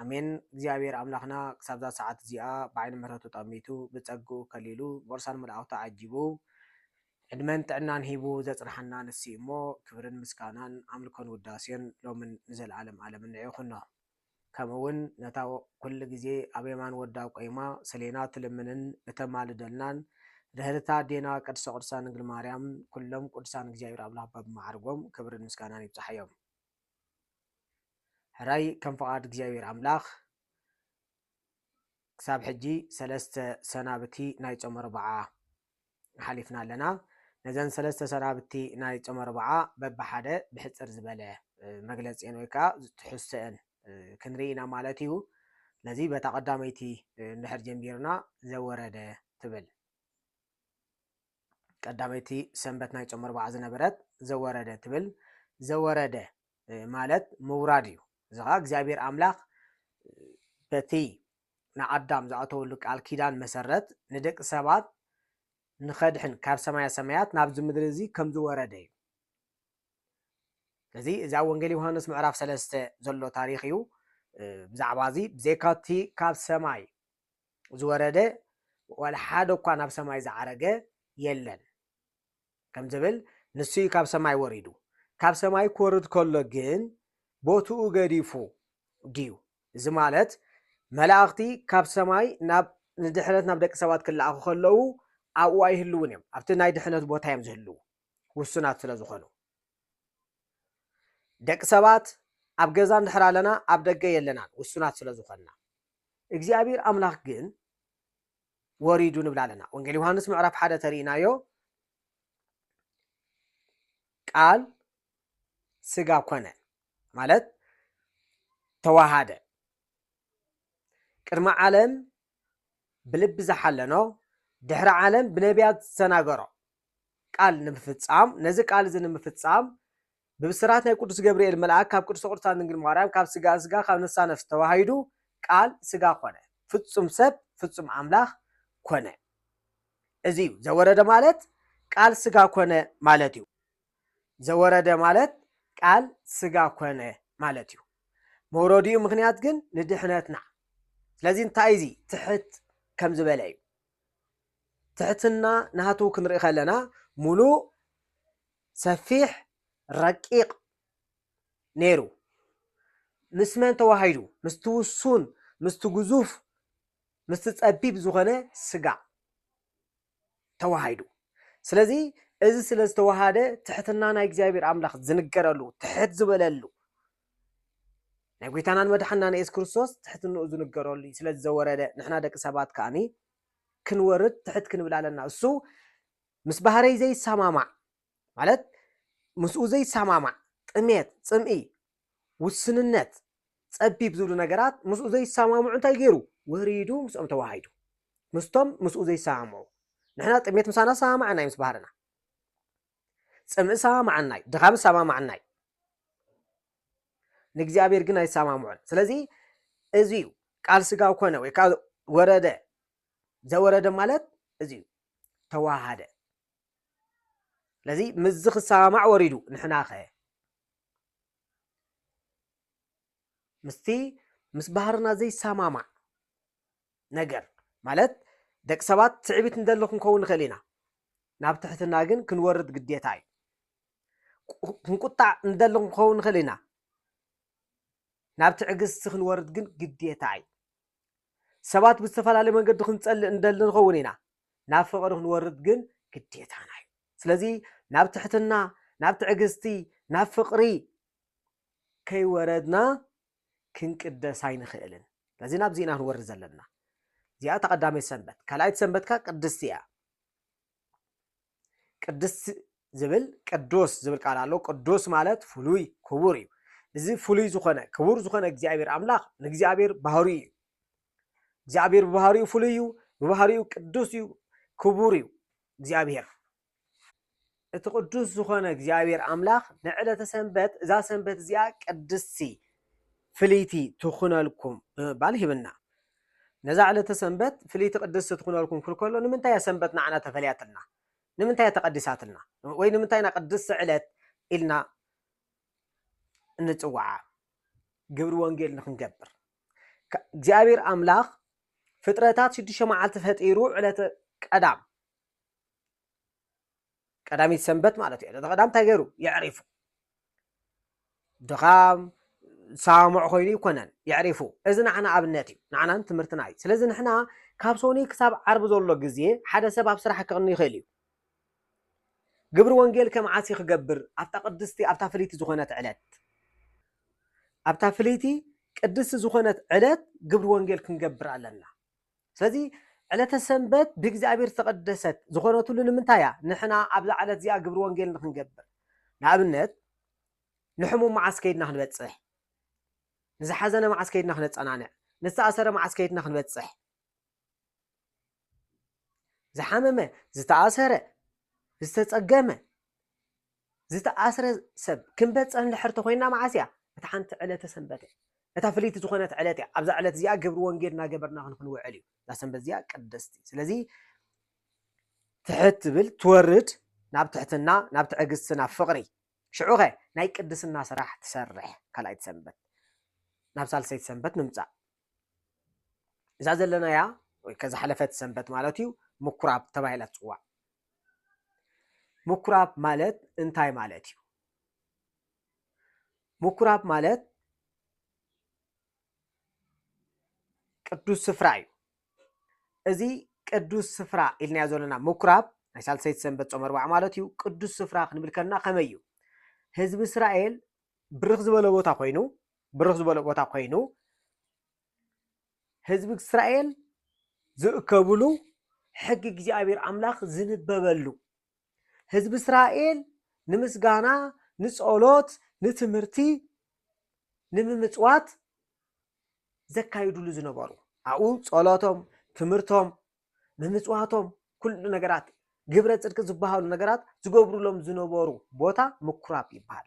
ኣሜን እግዚኣብሔር ኣምላክና ክሳብዛ ሰዓት እዚኣ ብዓይኒ ምህረቱ ጠሚቱ ብፀግኡ ከሊሉ ብቅርሳን መላእክቱ ዓጂቡ ዕድመን ጥዕናን ሂቡ ዘፅንሓና ንሱ እዩ እሞ ክብርን ምስጋናን ኣምልኮን ውዳሴን ሎምን ንዘለዓለም ዓለምን ንዕ ይኩኖ ከምኡ እውን ነታ ኩሉ ግዜ ኣብ የማን ወዳ ቆይማ ሰሌና ትልምንን እተማልደልናን ርህርታ ኣዴና ቅድስተ ቅዱሳን ድንግል ማርያም ኩሎም ቅዱሳን እግዚኣብሔር ኣምላክ በብመዓርጎም ክብርን ምስጋናን ይብፅሓዮም። ሕራይ ከም ፍቓድ እግዚኣብሔር ኣምላኽ ክሳብ ሕጂ ሰለስተ ሰናብቲ ናይ ጾመ ኣርብዓ ሓሊፍና ኣለና። ነዘን ሰለስተ ሰናብቲ ናይ ጾመ ኣርብዓ በብሓደ ብሕጽር ዝበለ መግለጺኤን ወይ ከዓ ትሕዝተኤን ክንርኢ ኢና ማለት እዩ። ስለዚ በታ ቀዳመይቲ እንድሕር ጀሚርና ዘወረደ ትብል ቀዳመይቲ ሰንበት ናይ ጾም ኣርብዓ ዝነበረት ዘወረደ ትብል ዘወረደ ማለት ምውራድ እዩ እዚ ከዓ እግዚኣብሔር ኣምላኽ በቲ ንኣዳም ዝኣተወሉ ቃል ኪዳን መሰረት ንደቂ ሰባት ንኸድሕን ካብ ሰማያ ሰማያት ናብዚ ምድሪ እዚ ከም ዝወረደ እዩ ስለዚ እዚ ኣብ ወንጌል ዮሃንስ ምዕራፍ ሰለስተ ዘሎ ታሪክ እዩ ብዛዕባ እዚ ብዘይካቲ ካብ ሰማይ ዝወረደ ዋላ ሓደ እኳ ናብ ሰማይ ዝዓረገ የለን ከም ዝብል ንሱ እዩ ካብ ሰማይ ወሪዱ ካብ ሰማይ ክወርድ ከሎ ግን ቦትኡ ገዲፉ ድዩ እዚ ማለት መላእኽቲ ካብ ሰማይ ናብ ንድሕነት ናብ ደቂ ሰባት ክለኣኹ ከለዉ ኣብኡ ኣይህልውን እዮም ኣብቲ ናይ ድሕነት ቦታ እዮም ዝህልዉ ውሱናት ስለ ዝኾኑ ደቂ ሰባት ኣብ ገዛ እንድሕር ኣለና ኣብ ደገ የለናን ውሱናት ስለ ዝኾንና እግዚኣብሔር ኣምላኽ ግን ወሪዱ ንብል ኣለና ወንጌል ዮሃንስ ምዕራፍ ሓደ ተርእናዮ ቃል ስጋ ኮነ ማለት ተዋሃደ ቅድሚ ዓለም ብልቢ ዝሓለኖ ድሕሪ ዓለም ብነቢያት ዝተናገሮ ቃል ንምፍፃም ነዚ ቃል እዚ ንምፍፃም ብብስራት ናይ ቅዱስ ገብርኤል መልኣክ ካብ ቅድስተ ቅዱሳን ድንግል ማርያም ካብ ስጋኣ ስጋ ካብ ነፍሳ ነፍስ ተዋሂዱ ቃል ስጋ ኮነ ፍጹም ሰብ ፍጹም ኣምላኽ ኮነ እዚ እዩ ዘወረደ ማለት ቃል ስጋ ኮነ ማለት እዩ ዘወረደ ማለት ቃል ስጋ ኮነ ማለት እዩ መውረዲኡ ምክንያት ግን ንድሕነትና ስለዚ እንታይ እዚ ትሕት ከም ዝበለ እዩ ትሕትና ናቱ ክንርኢ ከለና ሙሉእ ሰፊሕ ረቂቅ ነይሩ ምስ መን ተዋሃሂዱ ምስቲ ውሱን ምስቲ ግዙፍ ምስቲ ጸቢብ ዝኾነ ስጋ ተዋሃሂዱ ስለዚ እዚ ስለ ዝተዋሃደ ትሕትና ናይ እግዚኣብሔር ኣምላኽ ዝንገረሉ ትሕት ዝበለሉ ናይ ጐይታናን መድሓንናን የሱስ ክርስቶስ ትሕትንኡ ዝንገረሉ እዩ። ስለ ዝዘወረደ ንሕና ደቂ ሰባት ከኣኒ ክንወርድ ትሕት ክንብል ኣለና። እሱ ምስ ባህረይ ዘይሰማማዕ ማለት ምስኡ ዘይሰማማዕ ጥሜት፣ ጽምኢ፣ ውስንነት፣ ጸቢብ ዝብሉ ነገራት ምስኡ ዘይሰማምዑ እንታይ ገይሩ? ወሪዱ ምስኦም ተዋሃይዱ። ምስቶም ምስኡ ዘይሰማምዑ ንሕና ጥሜት ምሳና ሰማማዕና እዩ ምስ ባህርና። ጽምእ ሰማማዓናይ ድኻም ሰማማዓናይ ንእግዚኣብሔር ግን ኣይሰማምዖን ስለዚ እዚ እዩ ቃል ስጋ ኮነ ወይ ከዓ ወረደ ዘወረደ ማለት እዚ እዩ ተዋሃደ ስለዚ ምስዚ ክሰማማዕ ወሪዱ ንሕና ኸ ምስቲ ምስ ባህርና ዘይሰማማዕ ነገር ማለት ደቂ ሰባት ትዕቢት ንደሊ ክንከውን ንኽእል ኢና፣ ናብ ትሕትና ግን ክንወርድ ግዴታ እዩ። ክንቁጣዕ ንደሊ ክንከውን ንኽእል ኢና፣ ናብ ትዕግስቲ ክንወርድ ግን ግዴታ እዩ። ሰባት ብዝተፈላለየ መንገዲ ክንጸልእ እንደሊ ንኸውን ኢና ናብ ፍቕሪ ክንወርድ ግን ግዴታና እዩ ስለዚ ናብ ትሕትና ናብ ትዕግስቲ ናብ ፍቕሪ ከይወረድና ክንቅደስ ኣይንኽእልን። ስለዚ ናብዚ ኢና ክንወርድ ዘለና። እዚኣ እታ ቀዳመይቲ ሰንበት። ካልኣይቲ ሰንበት ከ ቅድስቲ እያ። ቅድስቲ ዝብል ቅዱስ ዝብል ቃል ኣሎ። ቅዱስ ማለት ፍሉይ ክቡር እዩ። እዚ ፍሉይ ዝኾነ ክቡር ዝኾነ እግዚኣብሔር ኣምላኽ ንእግዚኣብሔር ባህርዩ እዩ። እግዚኣብሔር ብባህርኡ ፍሉይ እዩ፣ ብባህርኡ ቅዱስ እዩ፣ ክቡር እዩ እግዚኣብሔር። እቲ ቅዱስ ዝኾነ እግዚኣብሔር ኣምላኽ ንዕለተ ሰንበት እዛ ሰንበት እዚኣ ቅድስቲ ፍልይቲ ትኹነልኩም ብምባል ሂብና ነዛ ዕለተ ሰንበት ፍልይቲ ቅድስቲ ትኹነልኩም ክብል ከሎ ንምንታይ እያ ሰንበት ንዓና ተፈልያትልና ንምንታይ እያ ተቐዲሳትልና ወይ ንምንታይ ኢና ቅድስቲ ዕለት ኢልና እንፅዋዓ ግብሪ ወንጌል ንክንገብር እግዚኣብሔር ኣምላኽ ፍጥረታት ሽዱሽተ መዓልቲ ፈጢሩ ዕለተ ቀዳም ቀዳሚት ሰንበት ማለት እዩ ዕለተ ቀዳም እንታይ ገይሩ የዕሪፉ ድኻም ሳሙዕ ኮይኑ ይኮነን የዕሪፉ እዚ ንዓና ኣብነት እዩ ንዓናን ትምህርትና እዩ ስለዚ ንሕና ካብ ሶኒ ክሳብ ዓርቢ ዘሎ ግዜ ሓደ ሰብ ኣብ ስራሕ ክቕኒ ይኽእል እዩ ግብሪ ወንጌል ከም ዓሲ ክገብር ኣብታ ቅድስቲ ኣብታ ፍልይቲ ዝኾነት ዕለት ኣብታ ፍልይቲ ቅድስቲ ዝኾነት ዕለት ግብሪ ወንጌል ክንገብር ኣለና ስለዚ ዕለተ ሰንበት ብእግዚኣብሔር ዝተቐደሰት ዝኾነትሉ ንምንታይ እያ? ንሕና ኣብዛ ዕለት እዚኣ ግብሪ ወንጌል ንኽንገብር። ንኣብነት ንሕሙም መዓስ ከይድና ክንበጽሕ? ንዝሓዘነ መዓስ ከይድና ክነጸናንዕ? ንዝተኣሰረ መዓስ ከይድና ክንበጽሕ? ዝሓመመ፣ ዝተኣሰረ፣ ዝተጸገመ ዝተኣስረ ሰብ ክንበጽሕ እንድሕር ተኾይንና መዓስ እያ? እታ ሓንቲ ዕለተ ሰንበት እያ። እታ ፍልይቲ ዝኾነት ዕለት እያ። ኣብዛ ዕለት እዚኣ ግብሪ ወንጌል እናገበርና ክንውዕል እዩ። እዛ ሰንበት እዚኣ ቅድስቲ። ስለዚ ትሕት ትብል ትወርድ ናብ ትሕትና፣ ናብ ትዕግስቲ፣ ናብ ፍቕሪ። ሽዑ ኸ ናይ ቅድስና ስራሕ ትሰርሕ ካልኣይቲ ሰንበት ናብ ሳልሰይቲ ሰንበት ንምጻእ። እዛ ዘለናያ ወይ ከ ዝሓለፈት ሰንበት ማለት እዩ ምኩራብ ተባሂላ ትፅዋዕ ምኩራብ ማለት እንታይ ማለት እዩ ምኩራብ ማለት ቅዱስ ስፍራ እዩ እዚ ቅዱስ ስፍራ ኢልናዮ ዘለና ምኩራብ ናይ ሳልሰይቲ ሰንበት ፆም ኣርባዓ ማለት እዩ ቅዱስ ስፍራ ክንብል ከለና ከመይ እዩ ህዝቢ እስራኤል ብርኽ ዝበለ ቦታ ኮይኑ ብርኽ ዝበለ ቦታ ኮይኑ ህዝቢ እስራኤል ዝእከብሉ ሕጊ እግዚኣብሔር ኣምላኽ ዝንበበሉ ህዝቢ እስራኤል ንምስጋና ንጸሎት ንትምህርቲ ንምምፅዋት ዘካይዱሉ ዝነበሩ ኣብኡ ጸሎቶም ትምህርቶም ምምጽዋቶም ኩሉ ነገራት ግብረ ጽድቂ ዝበሃሉ ነገራት ዝገብሩሎም ዝነበሩ ቦታ ምኩራብ ይበሃል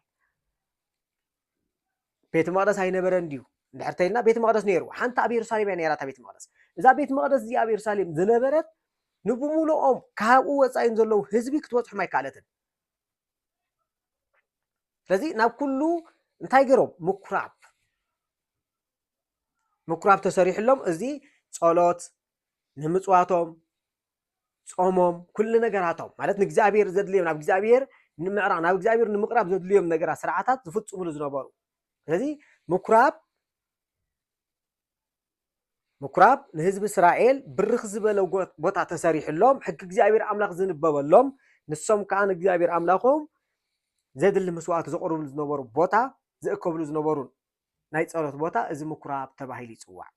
ቤተ መቅደስ ኣይነበረን እንድዩ እንድሕር ተይልና ቤተ መቅደስ ነይሩ ሓንቲ ኣብ የሩሳሌም እያ ነይራ እታ ቤተ መቅደስ እዛ ቤተ መቅደስ እዚኣ ኣብ የሩሳሌም ዝነበረት ንብምሉኦም ካብኡ ወፃኢን ዘለዉ ህዝቢ ክትበፅሖም ኣይከኣለትን ስለዚ ናብ ኩሉ እንታይ ገይሮም ምኩራብ ምኩራብ ተሰሪሕሎም እዚ ጸሎት ንምፅዋቶም ጾሞም ኩሉ ነገራቶም ማለት ንእግዚኣብሔር ዘድልዮም ናብ እግዚኣብሔር ንምዕራቕ ናብ እግዚኣብሔር ንምቕራብ ዘድልዮም ነገራት ስርዓታት ዝፍፅሙሉ ዝነበሩ ስለዚ ምኩራብ ምኩራብ ንህዝቢ እስራኤል ብርኽ ዝበለ ቦታ ተሰሪሕሎም ሕጊ እግዚኣብሔር ኣምላኽ ዝንበበሎም ንሶም ከዓ ንእግዚኣብሔር ኣምላኾም ዘድሊ መስዋእቲ ዘቕርብሉ ዝነበሩ ቦታ ዝእከብሉ ዝነበሩ ናይ ጸሎት ቦታ እዚ ምኩራብ ተባሂሉ ይፅዋዕ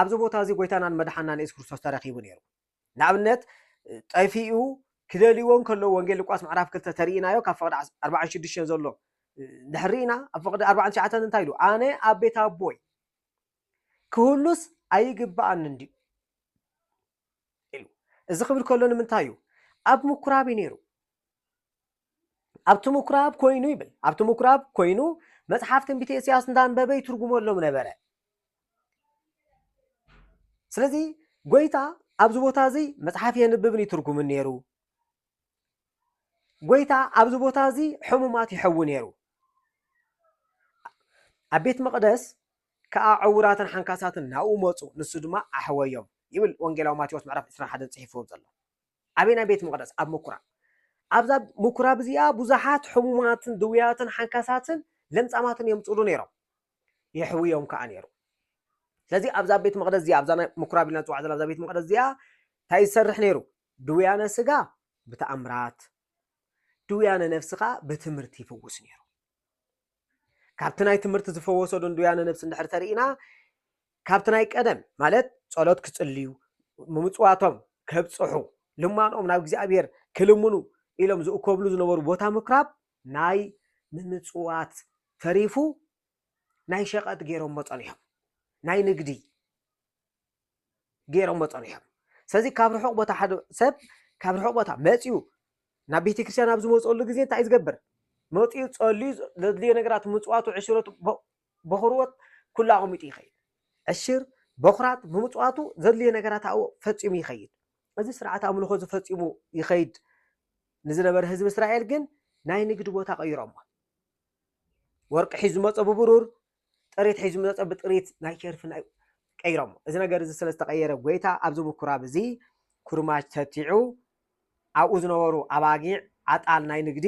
ኣብዚ ቦታ እዚ ጎይታናን መድሓናን የሱስ ክርስቶስ ተረኪቡ ነይሩ ንኣብነት ጠፊኡ ክደልይዎ ከለዉ ወንጌል ሉቃስ ምዕራፍ ክልተ ተርእናዮ ካብ ፍቅዲ ኣርባዓን ሽዱሽተን ዘሎ ድሕሪና ኣብ ፍቅዲ ኣርባዓን ትሽዓተን እንታይ ኢሉ ኣነ ኣብ ቤት ኣቦይ ክህሉስ ኣይግባኣን እንድዩ ኢሉ እዚ ክብል ከሎ ንምንታይ እዩ ኣብ ምኩራብ እዩ ነይሩ ኣብቲ ምኵራብ ኰይኑ ይብል፣ ኣብቲ ምኵራብ ኰይኑ መጽሓፍ ትንቢተ ኢሳይያስ እንዳንበበ ይትርጉመሎም ነበረ። ስለዚ ጐይታ ኣብዚ ቦታ እዚ መጽሓፍ የንብብን ይትርጉምን ነይሩ። ጐይታ ኣብዚ ቦታ እዚ ሕሙማት ይሕዊ ነይሩ። ኣብ ቤት መቕደስ ከኣ ዕውራትን ሓንካሳትን ናብኡ መጹ፣ ንሱ ድማ ኣሕወዮም ይብል ወንጌላዊ ማቴዎስ ምዕራፍ 21 ጽሒፍዎ ዘሎ። ኣበየናይ ቤት መቕደስ? ኣብ ምኵራብ። ኣብዛ ምኵራብ እዚኣ ብዙሓት ሕሙማትን ድውያትን ሓንካሳትን ለምጻማትን እዮም ዝጽሉ ነይሮም፣ የሕውዮም ከኣ ነይሩ። ስለዚ ኣብዛ ቤት መቕደስ እዚኣ፣ ኣብዛ ናይ ምኵራብ ኢልና ንጽውዓ ዘለና ኣብዛ ቤት መቕደስ እዚኣ እንታይ እዩ ዝሰርሕ ነይሩ? ድውያነ ስጋ ብተኣምራት፣ ድውያነ ነፍሲ ከኣ ብትምህርቲ ይፍውስ ነይሩ። ካብቲ ናይ ትምህርቲ ዝፈወሶ ድንዱያነ ነብሲ እንድሕር ተርኢና ካብቲ ናይ ቀደም ማለት ጸሎት ክጽልዩ ምምጽዋቶም ከብጽሑ ልማኖኦም ናብ እግዚኣብሔር ክልምኑ ኢሎም ዝእከብሉ ዝነበሩ ቦታ ምኩራብ ናይ ምምጽዋት ተሪፉ ናይ ሸቐጥ ገይሮሞ ጸኒሖም ናይ ንግዲ ገይሮሞ ፀኒሖም ስለዚ ካብ ርሑቕ ቦታ ሓደ ሰብ ካብ ርሑቕ ቦታ መፅኡ ናብ ቤተ ክርስቲያን ኣብ ዝመፅኦሉ ግዜ እንታይ እዩ ዝገብር መፅኡ ፀልዩ ዘድልዮ ነገራት ምፅዋቱ ዕሽረቱ በኹርዎት ኩሉ ኣቐሚጡ ይኸይድ ዕሽር በኹራት ብምፅዋቱ ዘድልዮ ነገራት ኣብኡ ፈፂሙ ይኸይድ እዚ ስርዓት ኣምልኾ ዝፈፂሙ ይኸይድ ንዝነበረ ህዝቢ እስራኤል ግን ናይ ንግዲ ቦታ ቀይሮሞ ወርቂ ሒዙ ዝመፀ ብብሩር ጥሪት ሒዙ ምጸ ብጥሪት ናይ ሸርፊ ናይ ቀይሮሞ እዚ ነገር እዚ ስለ ዝተቐየረ ጎይታ ኣብዚ ምኩራብ እዚ ኩርማጅ ተቲዑ ኣብኡ ዝነበሩ ኣባጊዕ ዓጣል ናይ ንግዲ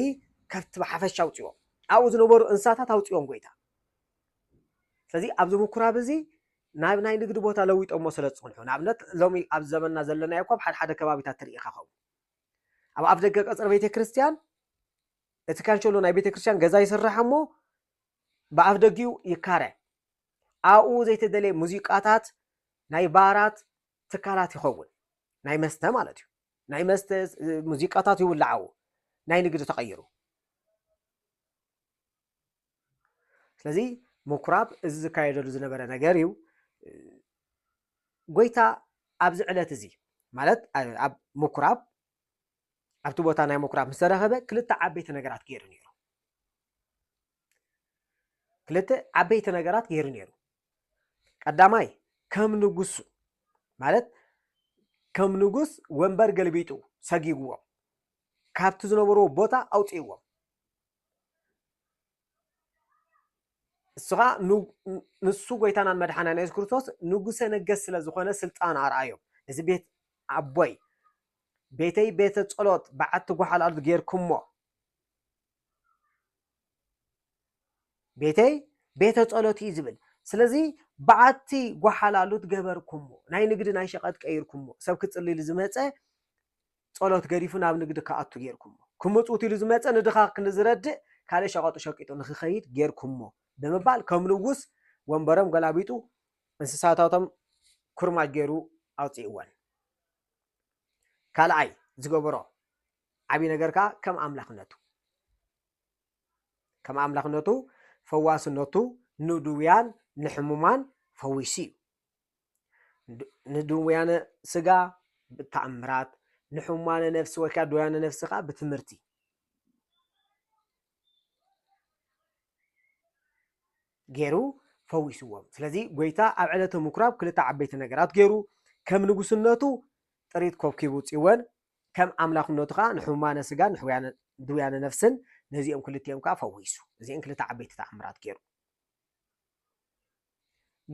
ከብቲ ብሓፈሻ ኣውፅዎ ኣብኡ ዝነበሩ እንስሳታት ኣውፅዎም ጎይታ ስለዚ ኣብዚ ምኩራብ እዚ ናብ ናይ ንግዲ ቦታ ለዊጦሞ ስለ ዝፅንሑ ንኣብነት ሎሚ ኣብ ዘመንና ዘለናዮ እኳ ኣብ ሓደ ሓደ ከባቢታት ትርኢ ከኸው ኣብ ኣፍ ደገ ቀፅሪ ቤተ ክርስቲያን እቲ ካንሸሎ ናይ ቤተ ክርስቲያን ገዛ ይስራሕ እሞ ብኣፍደጊኡ ይካረ። ኣብኡ ዘይተደልየ ሙዚቃታት ናይ ባራት ትካላት ይኸውን። ናይ መስተ ማለት እዩ። ናይ መስተ ሙዚቃታት ይውላዕ ኣብኡ። ናይ ንግዲ ተቐይሩ። ስለዚ ምኩራብ እዚ ዝካየደሉ ዝነበረ ነገር እዩ። ጎይታ ኣብዚ ዕለት እዚ ማለት ኣብ ምኩራብ ኣብቲ ቦታ ናይ ምኩራብ ምስ ተረኸበ ክልተ ዓበይቲ ነገራት ገይሩ ነይሩ። ክልተ ዓበይቲ ነገራት ገይሩ ነይሩ ቀዳማይ ከም ንጉሱ ማለት ከም ንጉስ ወንበር ገልቢጡ ሰጊግዎም ካብቲ ዝነበርዎ ቦታ ኣውፅእዎም ንስኻ ንሱ ጎይታናን መድሓናን የሱስ ክርስቶስ ንጉሰ ነገስ ስለ ዝኾነ ስልጣን ኣርኣዮም እዚ ቤት ኣቦይ ቤተይ ቤተ ጸሎት በዓቲ ጎሓል ኣልት ጌርኩሞ። ቤተይ ቤተ ጸሎት እዩ ዝብል ስለዚ በዓቲ ጎሓል ኣሉት ገበርኩሞ ናይ ንግዲ ናይ ሸቀጥ ቀይርኩሞ ሰብ ክጽልይሉ ዝመጸ ጸሎት ገዲፉ ናብ ንግዲ ክኣቱ ጌርኩሞ ክምጽውት ኢሉ ዝመጸ ንድኻ ክንዝረድእ ካልእ ሸቀጡ ሸቂጡ ንክኸይድ ጌርኩሞ ብምባል ከም ንጉስ ወንበሮም ገላቢጡ እንስሳታቶም ኩርማጅ ገይሩ ኣውጽእወን። ካልኣይ ዝገበሮ ዓብዪ ነገር ከዓ ከም ኣምላኽነቱ ከም ኣምላኽነቱ ፈዋስነቱ ንድውያን ንሕሙማን ፈዊሱ እዩ ንድውያነ ስጋ ብተኣምራት ንሕሙማነ ነፍሲ ወይ ከዓ ድውያነ ነፍሲ ከዓ ብትምህርቲ ገይሩ ፈዊስዎም። ስለዚ ጐይታ ኣብ ዕለተ ምኵራብ ክልተ ዓበይቲ ነገራት ገይሩ፣ ከም ንጉስነቱ ጥሪት ኰብኪቡ ጽወን፣ ከም ኣምላኽነቱ ከኣ ንሕሙማነ ስጋን ንድውያነ ነፍስን ነዚኦም ክልቲኦም ከኣ ፈዊሱ። እዚኤን ክልተ ዓበይቲ ተኣምራት ገይሩ።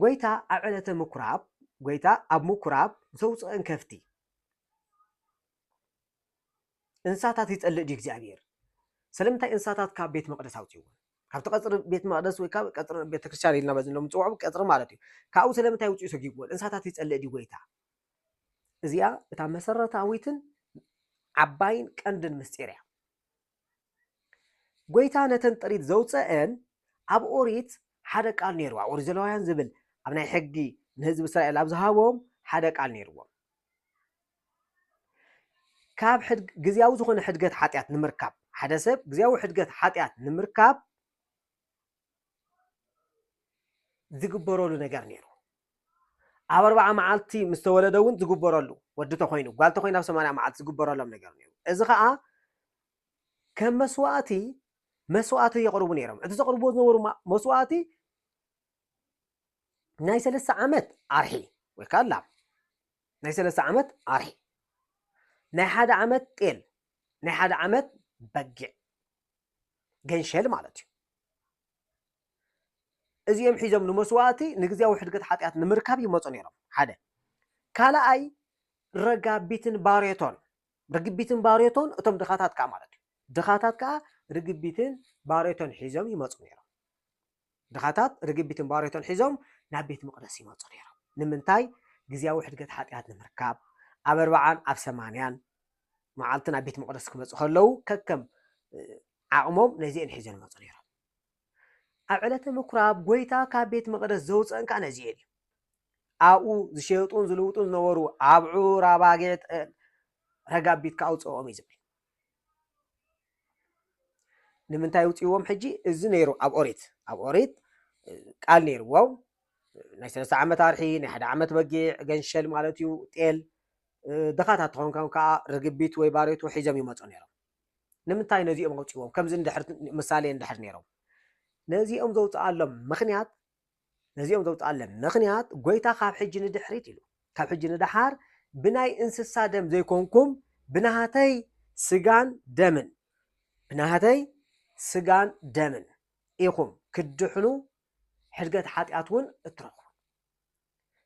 ጐይታ ኣብ ዕለተ ምኵራብ ጐይታ ኣብ ምኵራብ ዘውጽእን ከፍቲ። እንስሳታት ይጸልእ ድዩ እግዚኣብሔር? ስለምንታይ እንስሳታት ካብ ቤት መቕደስ ኣውጽዎ? ካብቲ ቀጽሪ ቤት መቕደስ ወይ ካብ ቀጽሪ ቤተ ክርስቲያን ኢልና በዚ ሎም ንጽውዖ ቀጽሪ ማለት እዩ ካብኡ ስለምንታይ ውፅኡ ሰጊግዎ እንስሳታት ይጸልእ ድዩ ጎይታ እዚኣ እታ መሰረታዊትን ዓባይን ቀንድን ምስጢር እያ ጎይታ ነተን ጥሪት ዘውፀአን ኣብ ኦሪት ሓደ ቃል ነይሩ ኣብ ኦሪት ዘለዋውያን ዝብል ኣብ ናይ ሕጊ ንህዝቢ እስራኤል ኣብ ዝሃቦም ሓደ ቃል ነይርዎም ካብ ሕድ ግዝያዊ ዝኾነ ሕድገት ሓጢኣት ንምርካብ ሓደ ሰብ ግዝያዊ ሕድገት ሓጢኣት ንምርካብ ዝግበረሉ ነገር ነይሩ ኣብ ኣርባዓ መዓልቲ ምስ ተወለደ እውን ዝግበረሉ ወዲ ተኮይኑ ጓል ተኮይኑ ኣብ ሰማንያ መዓልቲ ዝግበረሎም ነገር ነይሩ እዚ ከዓ ከም መስዋእቲ መስዋእቲ የቕርቡ ነይሮም እቲ ዘቕርብዎ ዝነበሩ መስዋእቲ ናይ ሰለስተ ዓመት ኣርሒ ወይ ከዓ ላም ናይ ሰለስተ ዓመት ኣርሒ፣ ናይ ሓደ ዓመት ጤል፣ ናይ ሓደ ዓመት በጊዕ ገንሸል ማለት እዩ። እዚኦም ሒዞም ንመስዋእቲ ንግዜያዊ ሕድገት ሓጢኣት ንምርካብ ይመፁ ነይሮም ሓደ ካልኣይ ረጋቢትን ባሬቶን ርግቢትን ባሬቶን እቶም ድኻታት ከዓ ማለት እዩ ድኻታት ከዓ ርግቢትን ባሬቶን ሒዞም ይመፁ ነይሮም ድኻታት ርግቢትን ባሬቶን ሒዞም ናብ ቤት መቕደስ ይመጹ ነይሮም። ንምንታይ? ግዝያዊ ሕድገት ሓጢኣት ንምርካብ። ኣብ ኣርብዓን ኣብ ሰማንያን መዓልቲ ናብ ቤት መቕደስ ክመጹ ከለዉ ከከም ዓቕሞም ነዚኤን ሒዞን ይመጹ ነይሮም። ኣብ ዕለተ ምኩራብ ጎይታ ካብ ቤት መቕደስ ዘውፀን ከዓ ነዚኤን እዩ። ኣብኡ ዝሸጡን ዝልውጡን ዝነበሩ ኣብዑር ኣባጊዕ ረጋቢት ከኣውፅኦም እዩ ዝብል ንምንታይ ውፅዎም ሕጂ እዚ ነይሩ ኣብ ኦሪት ኣብ ኦሪት ቃል ነይርዎም ናይ ሰለስተ ዓመት ኣርሒ ናይ ሓደ ዓመት በጊዕ ገንሸል ማለት እዩ ጤል ድኻታት ትኸውን ከም ከዓ ርግቢት ወይ ባሬቱ ሒዞም ይመፁ ነይሮም ንምንታይ ነዚኦም ኣውፅዎም ከምዚ እንድሕር ምሳሌ እንድሕር ነይሮም ነዚኦም ዘውፅኣሎም ምክንያት ነዚኦም ዘውጽኣለም ምኽንያት ጐይታ ኻብ ሕጂ ንድሕሪት ኢሉ፣ ካብ ሕጂ ንደሓር ብናይ እንስሳ ደም ዘይኰንኩም፣ ብናህተይ ስጋን ደምን፣ ብናህተይ ስጋን ደምን ኢኹም ክትድሕኑ፣ ሕድገት ሓጢኣት እውን እትረኽቡ።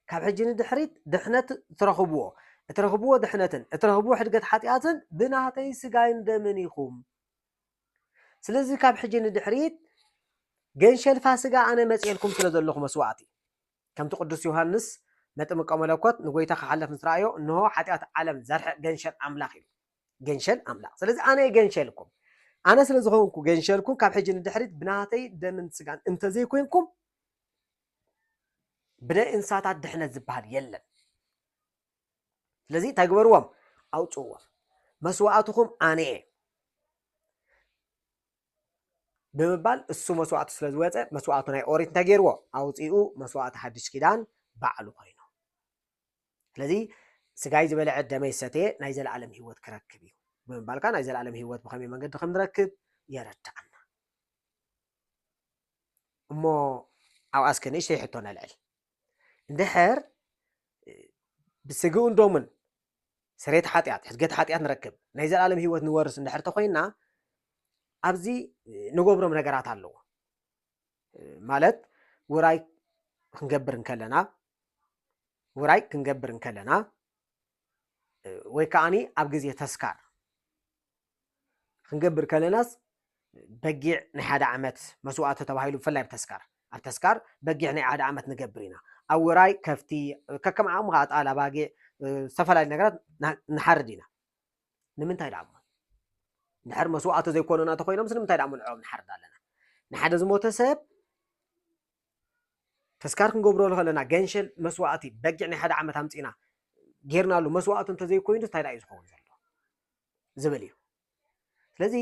ካብ ሕጂ ንድሕሪት ድሕነት እትረኽብዎ፣ እትረኽብዎ ድሕነትን እትረኽብዎ ሕድገት ሓጢኣትን ብናህተይ ስጋይን ደምን ኢኹም። ስለዚ ካብ ሕጂ ንድሕሪት ገንሸል ፋስጋ ኣነ መጺኤልኩም ስለ ዘለኹ መስዋዕቲ ከምቲ ቅዱስ ዮሃንስ መጥምቀ መለኮት ንጎይታ ክሓለፍ ምስ ረኣዮ እንሆ ሓጢኣት ዓለም ዘርሕቅ ገንሸል ኣምላኽ ኢሉ ገንሸል ኣምላኽ ስለዚ ኣነ እየ ገንሸልኩም ኣነ ስለ ዝኾንኩ ገንሸልኩም ካብ ሕጂ ንድሕሪት ብናተይ ደምን ስጋን እንተዘይኮይንኩም ብናይ እንስሳታት ድሕነት ዝበሃል የለን ስለዚ እንታይ ግበርዎም ኣውፅእዎም መስዋእትኹም ኣነ እየ ብምባል እሱ መስዋእቲ ስለ ዝወፀ መስዋእቱ ናይ ኦሪት እንታይ ገይርዎ ኣውፅኡ መስዋእቲ ሓድሽ ኪዳን ባዕሉ ኮይኑ ስለዚ ስጋይ ዝበልዐ ደመይ ዝሰተየ ናይ ዘለኣለም ሂወት ክረክብ እዩ ብምባል ከዓ ናይ ዘለኣለም ሂወት ብከመይ መንገዲ ከም ንረክብ የረድኣና እሞ ኣብኣ እስከ ንእሽተይ ሕቶ ነልዕል እንድሕር ብስግኡን ደሙን ስሬት ሓጢኣት ሕድገት ሓጢኣት ንረክብ ናይ ዘለኣለም ህይወት ንወርስ እንድሕር ተኮይና ኣብዚ ንገብሮም ነገራት ኣለዎ ማለት ውራይ ክንገብር እንከለና ውራይ ክንገብር እንከለና ወይ ከዓኒ ኣብ ግዜ ተስካር ክንገብር ከለናስ በጊዕ ናይ ሓደ ዓመት መስዋእቲ ተባሂሉ ብፍላይ ኣብ ተስካር ኣብ ተስካር በጊዕ ናይ ሓደ ዓመት ንገብር ኢና ኣብ ውራይ ከፍቲ ከከም ዓቕሙ ከዓ ጣል ኣባጊዕ ዝተፈላለዩ ነገራት ንሓርድ ኢና ንምንታይ ደኣ እሞ ድሕር መስዋእቲ ዘይኮኑና እንተኮይኖም ስለምንታይ ደኣ ምልዕኦም ንሓርድ ኣለና ንሓደ ዝሞተ ሰብ ተስካር ክንገብሮ ከለና ገንሸል መስዋእቲ በጊዕ ናይ ሓደ ዓመት ኣምፂና ጌርናሉ መስዋእቲ እንተዘይኮይኑ እንታይ ደኣ እዩ ዝኸውን ዘሎ ዝብል እዩ ስለዚ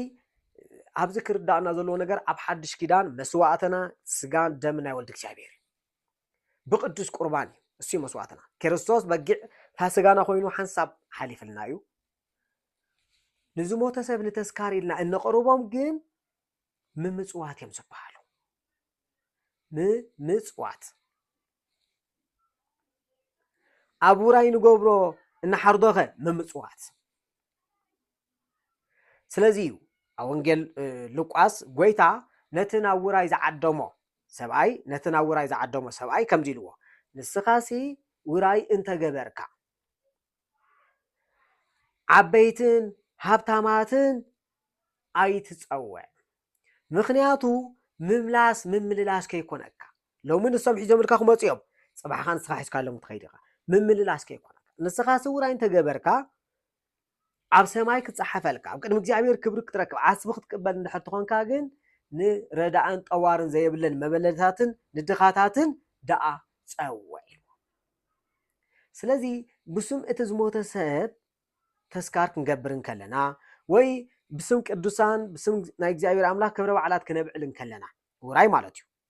ኣብዚ ክርዳእና ዘለዎ ነገር ኣብ ሓድሽ ኪዳን መስዋእትና ስጋን ደም ናይ ወልድ እግዚኣብሔር እዩ ብቅዱስ ቁርባን እዩ እሱ መስዋእትና ክርስቶስ በጊዕ ፋስጋና ኮይኑ ሓንሳብ ሓሊፍልና እዩ ንዝሞተ ሰብ ንተስካር ኢልና እነቕርቦም ግን ምምፅዋት እዮም ዝበሃሉ ምምፅዋት ኣብ ውራይ ንገብሮ እንሓርዶኸ ምምፅዋት ስለዚ እዩ ኣብ ወንጌል ሉቃስ ጎይታ ነቲ ናብ ውራይ ዝዓደሞ ሰብኣይ ነቲ ናብ ውራይ ዝዓደሞ ሰብኣይ ከምዚ ኢልዎ ንስኻሲ ውራይ እንተገበርካ ዓበይትን ሃብታማትን ኣይትፀውዕ ምክንያቱ ምምላስ ምምልላስ ከይኮነካ ሎሚ ንሶም ሒዞምልካ ክመጹ እዮም፣ ጽባሕ ከኣ ንስኻ ሒዝካሎም ክትኸይድ ኢኻ። ምምልላስ ከይኮነካ። ንስኻ ስውራይ እንተ ገበርካ ኣብ ሰማይ ክጸሓፈልካ፣ ኣብ ቅድሚ እግዚኣብሔር ክብሪ ክትረክብ፣ ዓስቢ ክትቅበል እንድሕር ትኾንካ ግን ንረዳእን ጠዋርን ዘየብለን መበለታትን ንድኻታትን ደኣ ጸውዕ ኢልዎ። ስለዚ ብስም እቲ ዝሞተ ሰብ ተስካር ክንገብር እንከለና ወይ ብስም ቅዱሳን ብስም ናይ እግዚኣብሔር ኣምላኽ ክብረ በዓላት ክነብዕል እንከለና ውራይ ማለት እዩ።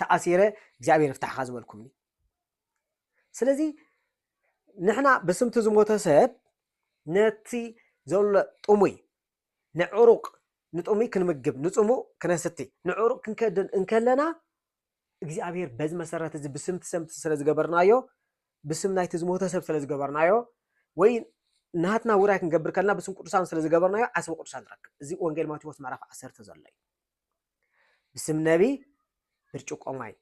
ተኣሲረ እግዚኣብሔር ይፍታሕኻ ዝበልኩምኒ ስለዚ ንሕና ብስምቲ ዝሞተ ሰብ ነቲ ዘሎ ጥሙይ ንዕሩቅ ንጥሙይ ክንምግብ ንፅሙእ ክነስቲ ንዕሩቅ ክንከድን እንከለና እግዚኣብሔር በዚ መሰረት እዚ ብስምቲ ሰምቲ ስለ ዝገበርናዮ ብስም ናይቲ ዝሞተ ሰብ ስለ ዝገበርናዮ ወይ ናትና ውራይ ክንገብር ከለና ብስም ቅዱሳን ስለ ዝገበርናዮ ዓስቢ ቅዱሳን ንረክብ እዚ ወንጌል ማቴዎስ ምዕራፍ ዓሰርተ ዘሎ እዩ ብስም ነቢይ ብርጭቆ ማይ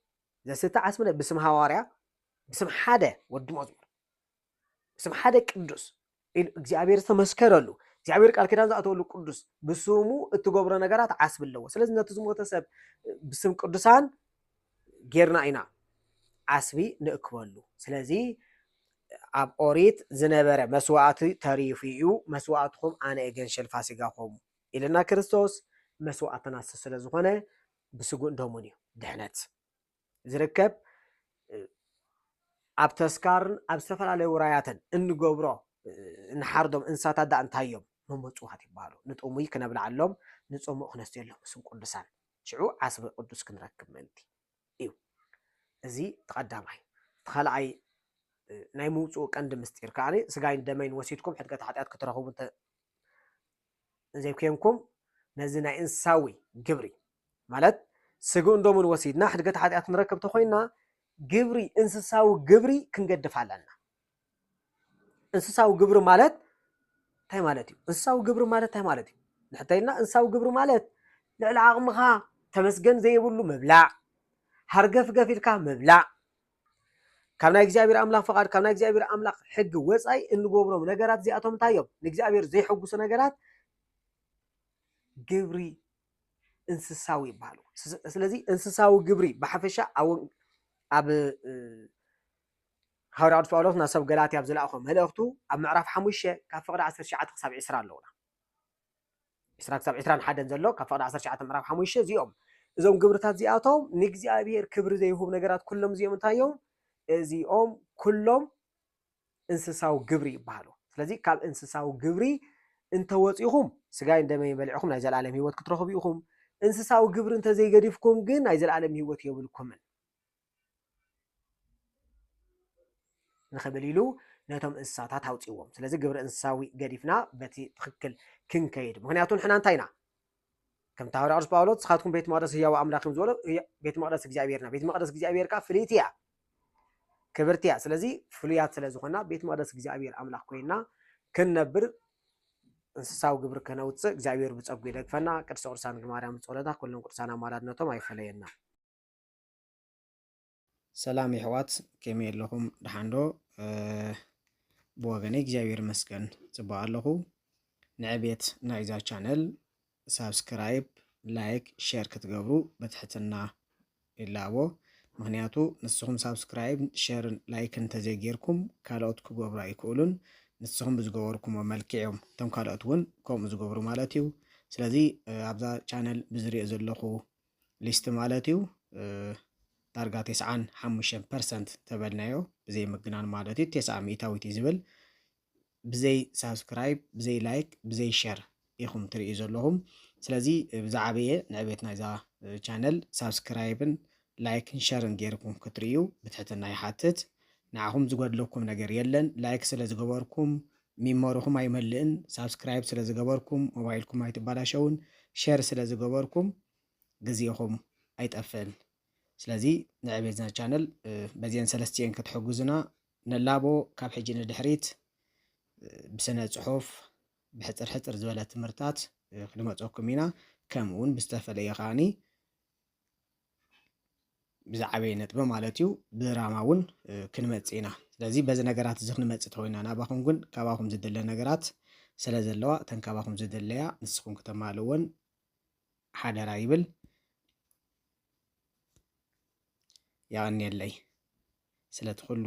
ዘስተ ዓስብለ ብስም ሃዋርያ ብስም ሓደ ወዲ መዝሙር ብስም ሓደ ቅዱስ ኢሉ እግዚኣብሔር ዝተመስከረሉ እግዚኣብሔር ቃል ኪዳን ዝኣተወሉ ቅዱስ ብስሙ እትገብሮ ነገራት ዓስቢ ኣለዎ ስለዚ ነቲ ዝሞተ ሰብ ብስም ቅዱሳን ጌርና ኢና ዓስቢ ንእክበሉ ስለዚ ኣብ ኦሪት ዝነበረ መስዋእቲ ተሪፉ እዩ መስዋእትኹም ኣነ እገንሸል ፋሲጋኹም ኢልና ክርስቶስ መስዋእትና ስለ ዝኾነ ብስጉእን ደሙን እዩ ድሕነት ዝርከብ ኣብ ተስካርን ኣብ ዝተፈላለዩ ውራያትን እንገብሮ ንሓርዶም እንስሳታት ዳኣ እንታይ እዮም መመፅዋት ይበሃሉ ንጥሙይ ክነብልዓሎም ንፅሙእ ክነስትየሎም ምስም ቅዱሳን ሽዑ ዓስቢ ቅዱስ ክንረክብ ምእንቲ እዩ እዚ ተቐዳማይ ተኻልኣይ ናይ ምውፅኡ ቀንዲ ምስጢር ከዓኒ ስጋይን ደመይን ወሲድኩም ሕድገት ሓጢኣት ክትረኽቡ እንዘይኴንኩም ነዚ ናይ እንስሳዊ ግብሪ ማለት ስግኡን ደሙን ወሲድና ሕድገት ሓጢኣት ንረክብ ተኾይንና ግብሪ እንስሳዊ ግብሪ ክንገድፍ ኣለና። እንስሳዊ ግብሪ ማለት እንታይ ማለት እዩ? እንስሳዊ ግብሪ ማለት እንታይ ማለት እዩ? ንሕተይልና እንስሳዊ ግብሪ ማለት ልዕሊ ዓቕምኻ ተመስገን ዘይብሉ ምብላዕ፣ ሃርገፍገፍ ኢልካ ምብላዕ፣ ካብ ናይ እግዚኣብሔር ኣምላኽ ፍቓድ ካብ ናይ እግዚኣብሔር ኣምላኽ ሕጊ ወፃኢ እንገብሮም ነገራት እዚኣቶም እንታይ እዮም ንእግዚኣብሔር ዘይሐጉሱ ነገራት ግብሪ እንስሳዊ ይበሃሉ ስለዚ እንስሳዊ ግብሪ ብሓፈሻ ኣብ ሃዋርያ ቅዱስ ጳውሎስ ናብ ሰብ ገላትያ ኣብ ዝለኣኾ መልእኽቱ ኣብ ምዕራፍ ሓሙሽተ ካብ ፍቕዲ ዓሰርተ ትሽዓተ ክሳብ ዕስራ ኣለዉና 20-21 ዘሎ ካብ ፍቕዲ 19 ምዕራፍ ሓሙሽተ እዚኦም እዞም ግብርታት እዚኣቶም ንእግዚኣብሔር ክብሪ ዘይሁብ ነገራት ኩሎም እዚኦም እንታይ እዮም? እዚኦም ኩሎም እንስሳዊ ግብሪ ይበሃሉ። ስለዚ ካብ እንስሳዊ ግብሪ እንተወፂኹም ስጋይን ደመይን በሊዕኹም ናይ ዘለኣለም ህይወት ክትረኽቡ ኢኹም። እንስሳዊ ግብሪ እንተዘይገዲፍኩም ግን ናይ ዘለኣለም ህይወት የብልኩምን። ንኽብል ኢሉ ነቶም እንስሳታት ኣውፅዎም ስለዚ ግብሪ እንስሳዊ ገዲፍና በቲ ትኽክል ክንከይድ ምክንያቱ ንሕና እንታይ ኢና ከምቲ ሃዋርያ ቅዱስ ጳውሎስ ንስኻትኩም ቤት መቅደስ ህያው ኣምላኽ እዮም ዝበሎ ቤት መቅደስ እግዚኣብሔርና ቤት መቅደስ እግዚኣብሔር ከዓ ፍልይቲ እያ ክብርቲ እያ ስለዚ ፍሉያት ስለ ዝኾና ቤት መቅደስ እግዚኣብሔር ኣምላኽ ኮይና ክንነብር እንስሳዊ ግብሪ ከነውፅእ እግዚኣብሔር ብፀጉ ይደግፈና ቅድስተ ቅዱሳን ማርያም ፀሎታ ኩሎም ቅዱሳን ኣማላድነቶም ኣይፈለየና ሰላም የሕዋት ከመይ ኣለኹም ደሓንዶ? ብወገነይ እግዚኣብሔር ይመስገን ጽቡቕ ኣለኹ። ንዕቤት ናይዛ ቻነል ሳብስክራይብ፣ ላይክ፣ ሼር ክትገብሩ በትሕትና ይላቦ። ምክንያቱ ንስኹም ሳብስክራይብ፣ ሼርን ላይክን እንተዘይጌርኩም ካልኦት ክገብሩ ኣይክእሉን። ንስኹም ብዝገበርኩሞ መልክዕ እዮም እቶም ካልኦት እውን ከምኡ ዝገብሩ ማለት እዩ። ስለዚ ኣብዛ ቻነል ብዝሪኦ ዘለኹ ሊስት ማለት እዩ ዳርጋ ቴስዓን ሓሙሽተን ፐርሰንት ተበልናዮ ብዘይ ምግናን ማለት እዩ ቴስዓ ሚእታዊት እዩ ዝብል ብዘይ ሳብስክራይብ ብዘይ ላይክ ብዘይ ሸር ኢኹም ትርእዩ ዘለኹም ስለዚ ብዛዕበየ ንዕቤት ናይዛ ቻነል ሳብስክራይብን ላይክን ሸርን ጌርኩም ክትርእዩ ብትሕትና ይሓትት ንዓኹም ዝጎድለኩም ነገር የለን ላይክ ስለ ዝገበርኩም ሚሞርኹም ኣይመልእን ሳብስክራይብ ስለ ዝገበርኩም ሞባይልኩም ኣይትባላሸውን ሸር ስለ ዝገበርኩም ግዜኹም ኣይጠፍእን ስለዚ ንዕቤትና ቻነል በዚኤን ሰለስቲኤን ክትሕግዙና ንላቦ ካብ ሕጂ ንድሕሪት ብስነ ጽሑፍ ብሕጽር ሕጽር ዝበለ ትምህርታት ክንመጸኩም ኢና ከምኡውን ብዝተፈለየ ከዓኒ ብዝዓበየ ነጥቢ ማለት እዩ ብራማ እውን ክንመፅእ ኢና ስለዚ በዚ ነገራት እዚ ክንመፅእ ተወይና ናባኹም ግን ካባኹም ዝድለ ነገራት ስለ ዘለዋ እተን ካባኹም ዝድለያ ንስኹም ክተማልእወን ሓደራ ይብል ያቀኒየለይ ስለቲ ኩሉ